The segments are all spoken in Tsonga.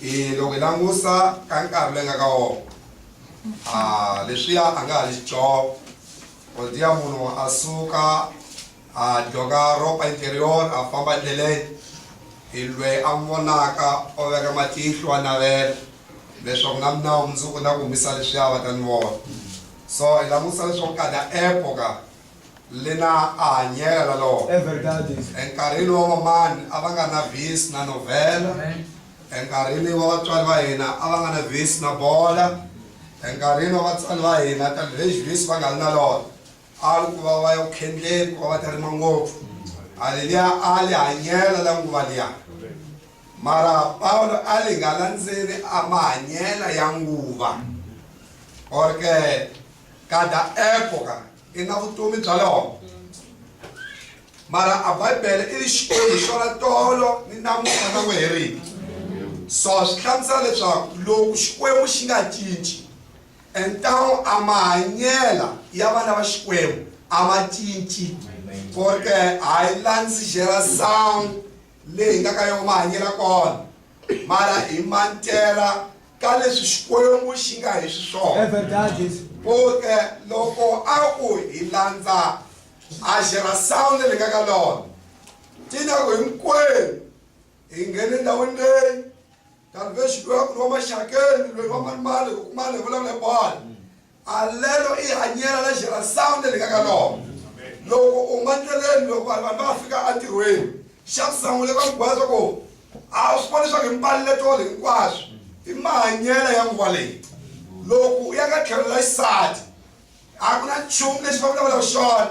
I loko hi langusa ka nkarhi loyi nga ka wona a leswiya a nga ha xidyoho kodiya munhu a suka a dyoka ropa interior a famba endleleni hi lweyi a n'wi vonaka o veka matihlo a navela leswaku na mina mundzuku na ku humisa leswiya va ta ni vona so hi langusa leswaku kada epoka Lina a hanyela na lona. É verdade isso. Enkarhini wa vamani a va nga na vis na novhela. Amém. Enkarhini wa vatswari va hina a va nga na vis na bola. Enkarhini wa vatswari va hina talvez vis va nga ri na lona. A ri ku va va ya ku khendleni ku va va ta rima ngopfu. Haleluya a li hanyela la nguva liya. Mara Pawulo a li nga landzeli a mahanyela ya nguva. Or ke ka da epoca. i nga vutomi bya lona mara a bibele i ri xikwembu xo ra tolo ni namuntlha na n'wi heriki so swi hlamusela leswaku loko xikwembu xi nga cinci entano a mahanyela ya vana va xikwembu a ma cinci porque a yi landzi jera sound leyi nga ka yona mahanyela kona mara hi mantera ka leswi xikwembu xi nga hi swiswona poke loko a ku hi landza a xera sound le ka ka lona tina ku hinkwenu hi nghene ndhawini leyi kambe xi loyi a ku ri wa maxakeni loyi wa malimali ku kumana hi vulavula hi bolo Alelo i hanyela la xirhandzani leri nga ka lona. Loko u nga ndleleni loko vanhu vanhu va nga fika entirhweni, xa ku sungula i ku va byela leswaku a swi vona leswaku hi mbalelo hinkwaswo i mahanyelo ya nguva leyi. Loko u ya ka tlhelo la xisati a ku na nchumu lexi va vulavulaka xona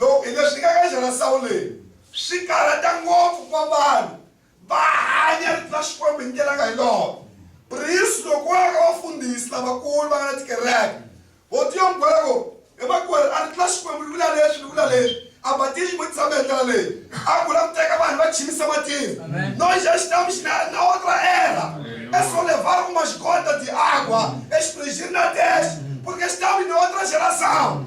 Loko hi le swikakanyiswa na Sawuleni, swi karhata ngopfu ku va vanhu va hanya rito ra Xikwembu hi ndlela nga hi loko Bruce loko wa ya ka vafundhisi lavakulu va nga na tikereke, vo ti yo n'wi byela ku, He makwerhu, a rito ra Xikwembu ri vula leswi, ri vula leswi. A Batista xi vutisa hambi hi ndlela leyi, a ku, U lava ku teka vanhu va chinisa matino? No xa xitambu xi na na otra era é só levar umas gotas de água, exprigir na testa, porque estamos em outra geração.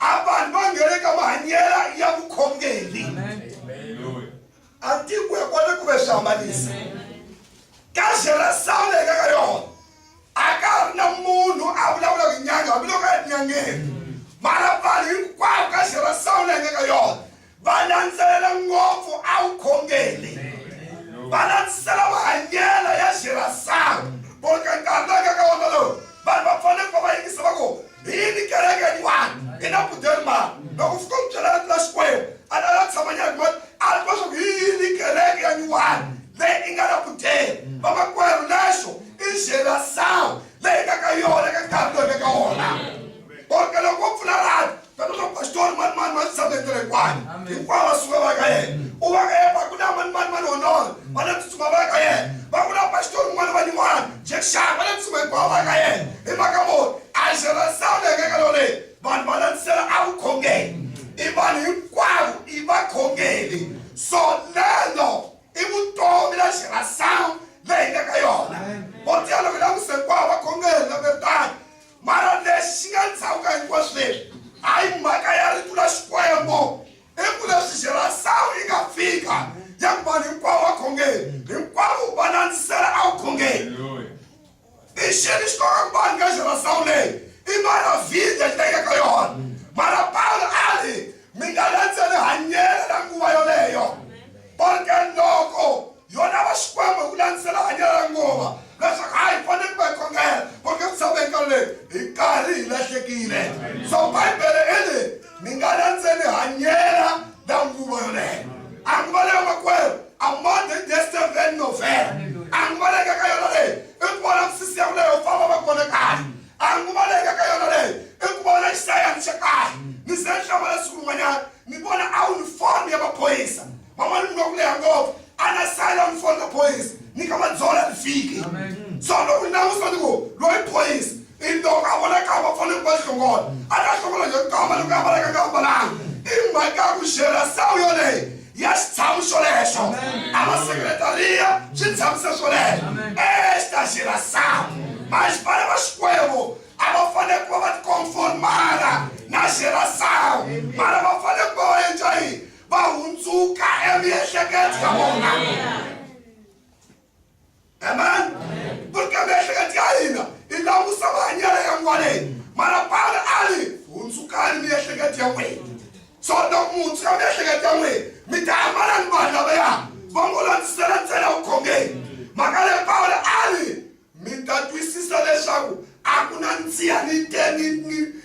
A vanhu va nghene ka mahanyela ya vukhongeri. Antiko ya kona ku ve swihambanisa. Ka Jerusalema hi nga ka yona a ka ha ri na munhu a vulavulaka nyanga hambiloko a ri nyangeni mara vanhu hinkwavo ka Jerusalema hi nga ka yona va landzelela ngopfu a vukhongeli va landzisela mahanyelo ya xirhasawu boka nkarhi loyi ka ka wona lowu vanhu va fanele ku va va yingisa va ku hi yini kereke yin'wana hi na budelmani loko fika u byela rito la xikwembu a la la tshama nyana mati a ri tiva swaku hi yini kereke ya nyuwani leyi i nga na budele vamakwerhu lexo i xirhasawu leyi nga ka yona ka nkarhi loyi ka ka wona boka loko wo pfula rati Tata na pastor mani mani va titshambetela hikwani hinkwavo va suka va ka yena u va ka yena va ku na mani mani mani honora va na tsutsuma va ka yena va ku na pastor un'wana va niwana jekshana va na tsutsuma hinkwavo va ka yena hi mhaka moni a xi ra sawula hi kaka loleyi vanhu va landzisela a vukhongeni i vanhu hinkwavo i vakhongeli so lelo i vutomi la xi ra sawula leyi nga ka yona vo tiya loko langusa hinkwavo vakhongeli na veritani Mara lexi xi nga ndzhaku ka hinkwaswo leswi, hayi mhaka ya Rito ra Xikwembu, i ku leswi Xirasawu yi nga fika ya ku vanhu hinkwavo va khongeli, hinkwavo va landzisela a vukhongeli. I xini xi koka ku vanhu ka Xirasawu leyi? I Maravhidi ya xitayika ka yona. Mara Pawulo a ri, mi nga landzeli hanyelo ra nguva yoleyo, porke loko Yona va Xikwembu hi ku landzisela hanyelo ra nguva leswaku hayi hi fanele ku va hi khongela kumbe ku tshama eka leyi hi karhi hi lahlekile so bibele i ri mi nga landzeli hanyela la nguva yoleyo a nguva leyo makwerhu a modern day seven november a nguva leyi ka ka yona leyi i ku vona misisi ya ku leyo famba va kona kahle a nguva leyi ka ka yona leyi i ku vona xisayansi xa kahle ni se ni hlama leswi kun'wanyana ni vona a uniform ya maphoyisa van'wana muka ku leha ngopfu ana sala mfona boys ni ka madzola lifiki so loko ni langusa ni ku loyi boys i loko a vona ka va fanele va hlongola a ta hlongola yo kamba loko a valaka nga valanga i mhaka ku xera sawu yoleyo ya xitshamo xolexo a va sekretariya xi tshamisa swolexo e xi ta xera sawu manje vana va xikwembu a va fanele ku va va tikonformara na xera sawu mara va fanele ku va va endla yini va hundzuka emiehleketo ya vona amen vuri ka miehleketo ya hina i langusa mahanyelo ya n'waneni mara pala a ri hundzukani miehleketo ya n'wina so loko muntshwa ya miehleketo ya n'wina mi ta ambala ni vanhu lavaya va ngo landzisela ntsena vukhongeni mhaka leyi pawula a ri Mi ta twisisa leswaku a ku na nsiha ni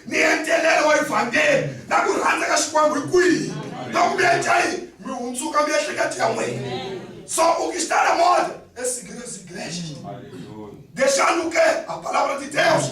ni entelelo wa Evhangeli na ku rhandza ka Xikwembu hi kwihi loko mi endla yini mi hundzuka miehleketo ya n'wina. So u kixitana moda esigilezigilexi. Dexanuke a palabra de Deus.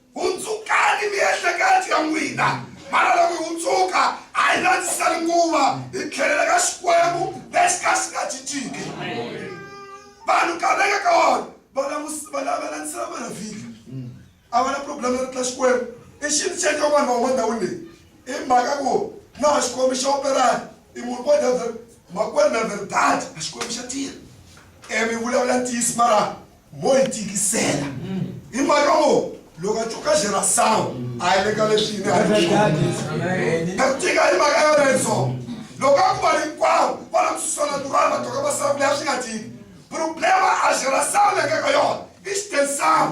Hundzukani miehleketo ya n'wina, mana loko hi hundzuka, a hi landziseli nguva, hi tlhelela ka Xikwembu lexi ka xi nga cinciki. Vanhu nkarhi leyi nga ka wona va landzisela Mavhiki, a va na problem ya ritla Xikwembu. I xintu xa ka vanhu van'wana ndhawini leyi, i mhaka ku na ha Xikwembu xa operana, i munhu vo dya makwerhu na verdade a Xikwembu xa tirha. E mi vulavula ntiyiso mara mo yi tikisela hi mhaka wo loko a twa xera sawu a yi le ka leswi yini a yi ku tika hi mhaka yona yi so loko a ku va hinkwawo va na kususana durwana va toka masawu leyi a swi nga tiki problema a xera sawu le ka ka yona i xitensawu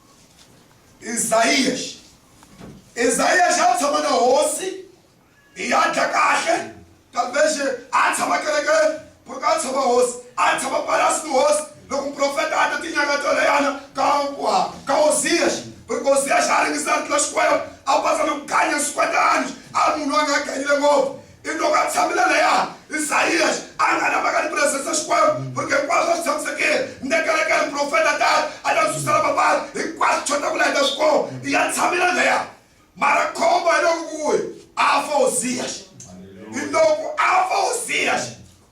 Izayaxi Izayaxi a tshama na hosi hi ya dya kahle kambexe a tshama kerekeni ku ri ka a tshama hosi a tshama palasi ni hosi loko muprofeta a ta tinyanga to leyana ka ka hoziyaxi ku ri hoziyaxi a ringisana tlula xikwembu a patsa ni ku ganya swikwetani a munhu a nga ganyile ngopfu I loko a tshamile laya, Isaias a a nga na mhaka ni presence Xikwembu, porque hinkwaswo a swi tshamisekile. Ni ta kereka hi muprofeta tani, a ta ndzi susela mavabyi, hinkwaswo swi chota ku la hi nga swi kumi. Ya tshamile laya. Mara khombo hi loko ku ri, a fa Uzias. Hi loko a fa Uzias,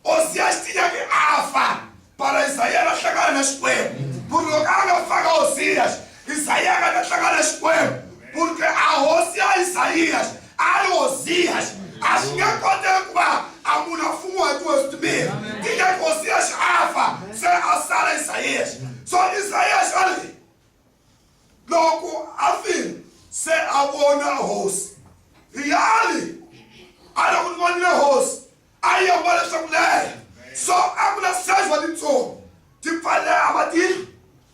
Osiya xi tiya ki afa, para Isaiya na hlangana na Xikwembu. Puri loko a nga fanga Osiya xi, Isaiya nga ta hlangana na Xikwembu. Puri ke a hosi ya Isaiya xi, a ri Osiya xi, a xi nge koteki kuva a munhu a fumiwa hi tihosi timbirhi. Ti nge ki Osiya xi a fa, se a sala Isaiya xi. So Isaiya xi a ri yini? Loko a file, se a vona hosi. Hi a ri, a loko ni vonile hosi, a yi ambale swa ku leha so a ku na size wa titsongo ti pfaleha matihlo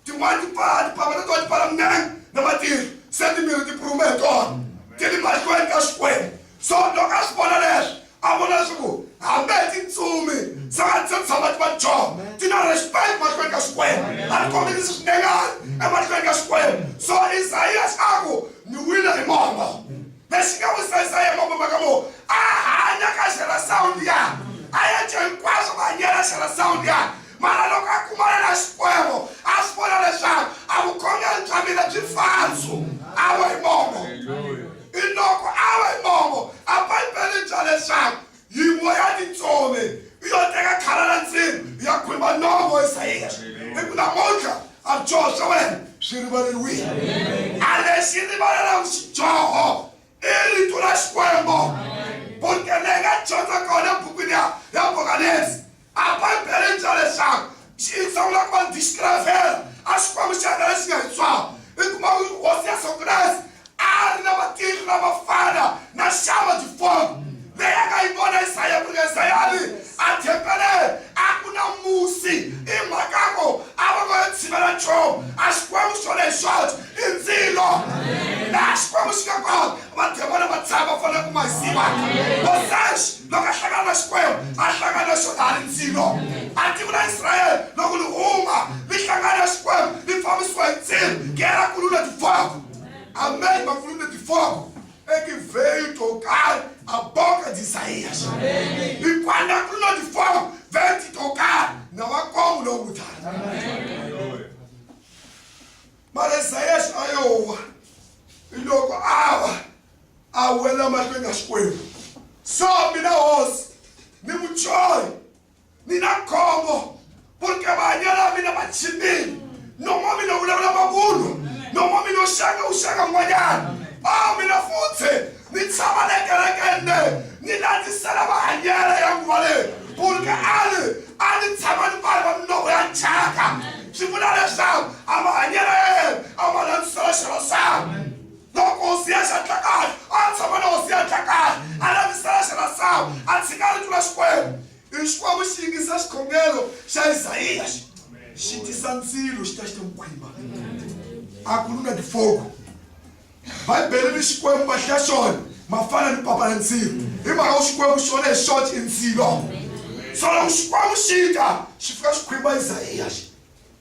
tin'wana ti pfala tiphama na tona ti pfala minenge na matihlo se timiri ti puruma hi tona ti ri mahlweni ka xikwembu so loko a swi vona leswi a vona leswaku hambi hi tintsumi se va se tshama ti va joho ti na respect mahlweni ka xikwembu a ri kombelisi swinengana emahlweni ka xikwembu so isayas a ku ni wile hi momo Lexi nga wisa Isaya makume ka lowu a hanya ka xela sawundi ya a ya dye hinkwaswo ku hanyela xela sawundi ya mara loko a kumana na Xikwembu a swi vona leswaku a vukhongeri bya mina byi falso a va hi mongo i loko a va hi mongo a Bibele bya leswaku Yiwo ya ni tsove i yo teka khala la nsimu ya khumba nomo wa Isayeri. I ku namuntlha a byoho swa wena swi rivaleriwile. A lexi rivalelaku xidyoho i rito ra Xikwembo. Butele i nga dyondza kona ebukwini ya Apokalipsi A Bibele ri byala leswaku xi sungula ku va ni tixitiravhela a Xikwembu xa hina lexi nga hi tswala. I kuma ku ri Hosi Yesu Kreste a ri na vatirhi lava fana na Shama Difomi leyi a nga yi vona Isaya ku ri Isayani a thempeleni a ku na musi i mhaka ku a va ngo yo tshivela nchumu a Xikwembu xona hi xoxe i ndzilo laha Xikwembu xi nga kona vademona va tshama va fanele ku ma hi siva loko a hlangana na xikwembu a hlangana na xona ha ri ndzilo a tiku la israyele loko li huma li hlangana na xikwembu li fambisiwa hi ndzilo gera kulu na tifoko amen mafulu na tifoko ekiveyu to karhi a boka disaias hikwanda kulu na tifoko venti to karhi na vakongu lowu tata mara isaias a yowa loko a wa a wela mahlweni ka Xikwembu. So mina hosi ni muchoyi ni na khombo purke vahanyela mina va chipile nomo mina wu vulavula mavunwa nomo mina u xanga u xanga n'wanyana a mina futhi ni tshama le kerekende ni landzisela vahanyela ya nguva leyi purke ali a ni tshama ni vanhu va minoko ya thyaka swi vula leswaku a vahanyela ya yena a va landzisela xirho sami Loko Hosiya xa Tlakala a tshama na Hosiya Tlakala a lavisela xa masangu a tshika a ritula Xikwembu hi Xikwembu xi yingisa xikhongelo xa Izayiya xi xi tisa ndzilo xi ta xi ta n'wi khwimba a ku luna tifogo Bibele ni Xikwembu va hlaya xona mafana ni papa la ndzilo hi mhaka ku Xikwembu xona hi xona xi ndzilo so loko Xikwembu xi ta xi fika xi khwimba Izayiya xi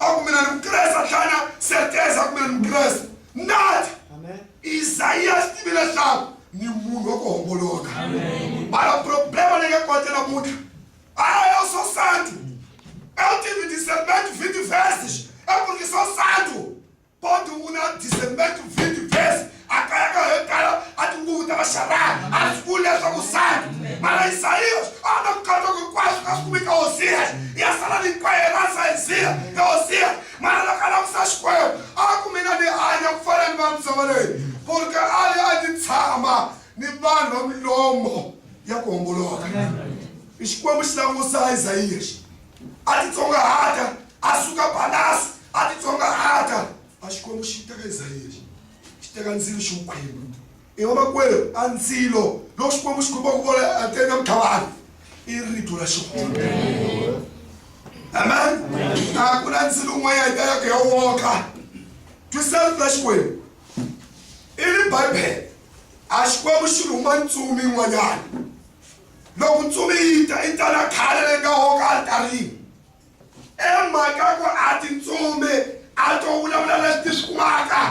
aku mina ni mukreste a tlhela na serteza aku mina ni mukreste nati isaiya swi tivi leswaku ni munhu wa ku homboloka mara problema leyi nga kona namuntlha ayo swo santu ewu tivi discernment vidi vest eku ri swo santu Kodwa u na December to vindi verse a kaya ka yo tala a tinguvu ta vaxarani a swi vuli leswaku sani mara isayiyos a va na ku katsa ku hinkwaswo ka swi kumeka hosiyas ya sala ni kwaye ra sayiziya ya hosiyas mara loko a langusa xikwembu a ku mina ni hanya ku fana ni vanhu misava leyi porke a li a ni tshama ni vanhu va milomo ya ku homboloka i xikwembu xi langusa isayiyas a titsongahata a suka balasi a titsongahata a xikwembu xi teka isirayeli xi teka ndzilo xi wu khwembu i vamakwerhu a ndzilo loko xikwembu xi khumba ku vona atena muthavana i rito ra xihonde amen a ku na ndzilo un'wana yi talaka ya woka twisani ra xikwembu i ri bibele a xikwembu xi rhuma ntsumi yin'wanyana Loko ntsumi yi ta, yi ta na khale leyi nga hoko alitarini. I mhaka ku a tintsumi a to vulavula leswi ti swi kumaka.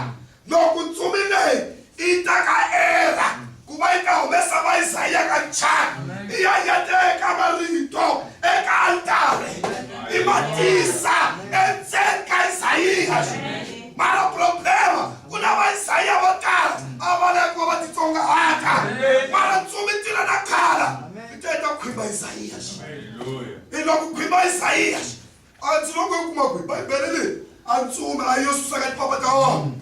Loko ntsumi leyi yi ta ka Era ku va yi ta humesa Vaisaya ka nchani, yi ya yi ya teka marito eka alitari, yi ma tisa endzeni ka Isaya. Mara problema, ku na Vaisaya vo tala a va lava ku va va titsongahata, mara ntsumi tila na khala ti te ta khwimba Isaiya. Hi lava ku khwimba Isaiya. A ndzi loko u kuma ku hi Bibele leyi a ntsumi a yo susa ka tipapa ta wona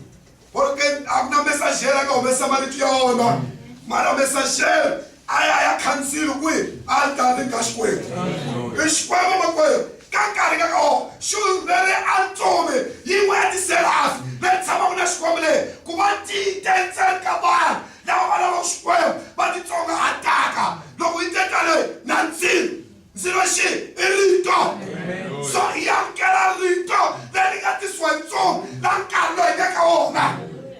or a ku na mesajere a nga humesa marito ya wona mara mesajere a ya ya khansili kwihi a ta ni ka xikwembu i xikwembu makwerhu ka nkarhi ka ka wona xulu leri a tsume yin'we ya tiserafi leri tshamaka na xikwembu leyi ku va tite ntseni ka vanhu lava va lavaka xikwembu va titsongahataka loko yi te tale na ndzilo ndzilo xi i rito so hi amukela rito leri nga tisiwa hi ntsongo la nkarhi loyi nga ka wona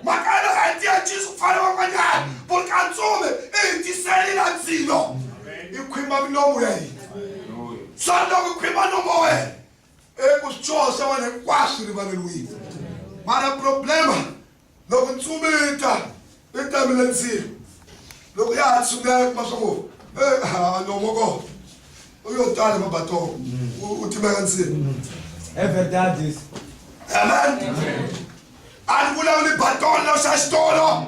mhaka ya loko a yi tiya jesu ku fana van'wanyana ku ri ka ntsumi i hi tiseli la ndzilo i khwimba milomu ya hina so loko khwimba nomo wena eku swi tshosa wena hinkwaswo rivaleriwile mara problema Loko ntsumi yi ta yi tamile ndzilo loko ya ha tshungela yi kuma swa ku a nomo ko u yo tala mabatoko u timeka ndzilo amen a ni vulavuli batolo xa xitolo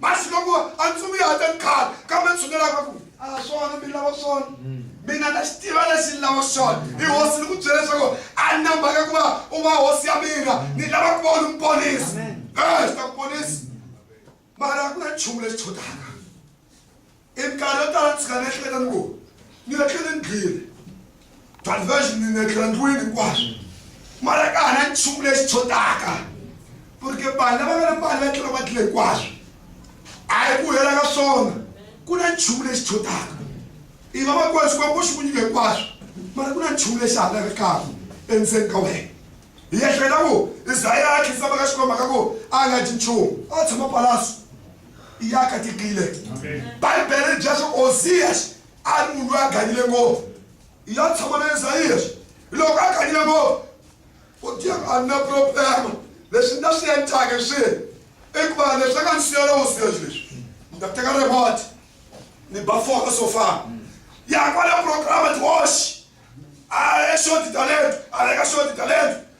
masi loko a ndzi vuya a ta ni khala kambe tshunelaka ku a ah, swona mi lava swona mm. mina na xi tiva lexi ni lava xona hi hosi ni ku byela leswaku a ni na mhaka ku va u va hosi ya mina ni lava ku va u ni muponisi e eh, xi ta ku ponisi mara a ku na nchumu lexi tshodaka I minkarhi yo tala ni tshuka ni ehleketa ni ku ni nga tlheli ni gile diversion ni nga tlhela ndlwini hinkwaswo mara ka ha na nchumu lexi tshotaka porque vanhu lava nga na mali va tlhela va tlhela hinkwaswo a hi ku hela ka swona ku na nchumu lexi tshotaka i va va kona xikwembu xi ku nyika hinkwaswo mara ku na nchumu lexi halaka kaku endzeni ka wena hi ehleketa ku isaya a khindzama ka xikwembu ka ku a nga dyi nchumu a tshama palasi iye akatikile bhaibheri ri byela swa osiyasi a ri munhu loyi a ganyile ngopfu ya tshama na esayiyasi loko a ganyile ngopfu u tiya ku a ni na problema leswi ni ta swi endlaka swihi i ku va leswi a nga ni siyela osiyasi leswi ni ta teka remote ni ba foka so fana ya kwale programa tihoxi a ye xoti talento a veka xoti talento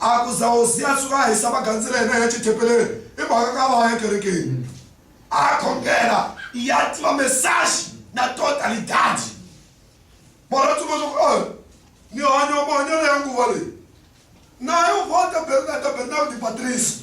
A ku za Hosi a tshuka a hisa magandzelo ya yena ya Xithepelele i mhaka ka va ya kerekeni. A khongela i ya tiva mesaxi na totalidadi. Mara a tsundzuka ku ri, Ni hanya mahanyelo ya nguva leyi. Na yo vota Bernardo Bernardo Patrício.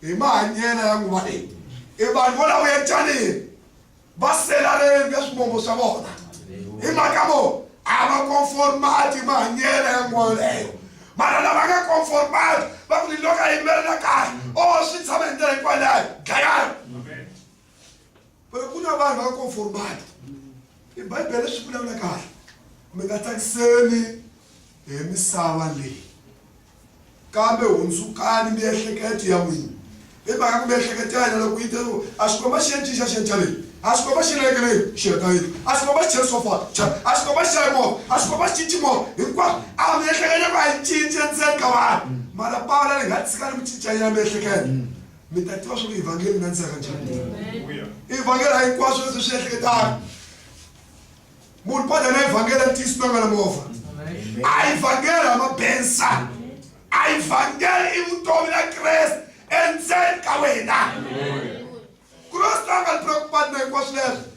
hi mahanyela ya nguva leyi i vanhu vo lavo yecanini va selareni ka swivongo swa vona hi mhaka vo a va conformati hi mahanyela ya nguva yoleyo mara lava nga conformati va ku liloko a yimelela kahle o swi tshama hi ndlela hikwalayo dlayani ku ri ku na vanhu va conformati i bibele swi vulavula kahle mi nga tsakiseni hi misava leyi kambe hundzukani miehleketo ya n'wina hi mhaka ku miehleketo ya hina loko yi teriwa a xikomba xi ya cinca xi ya chaveni a xikomba xi rekeleni xi ya tayeni a xikomba xi cherisofa chava a xikomba xi xayi movha a xikomba xi cinci movha hinkwaswo a miehleketo ku a yi cinci endzeni ka vanhu mara pawula ri nga tshika ri mi cincanyela miehleketo mi ta tiva swa ku evhangeli na ntseka njhani evhangeli a hinkwaswo leswi swi ehleketaka munhu padya na evhangeli a tiyisi nanga na movha a evhangeli a mabensa a evhangeli i vutomi na kreste endzeni ka wena kreste a nga ri preokupati na hinkwaswo leswi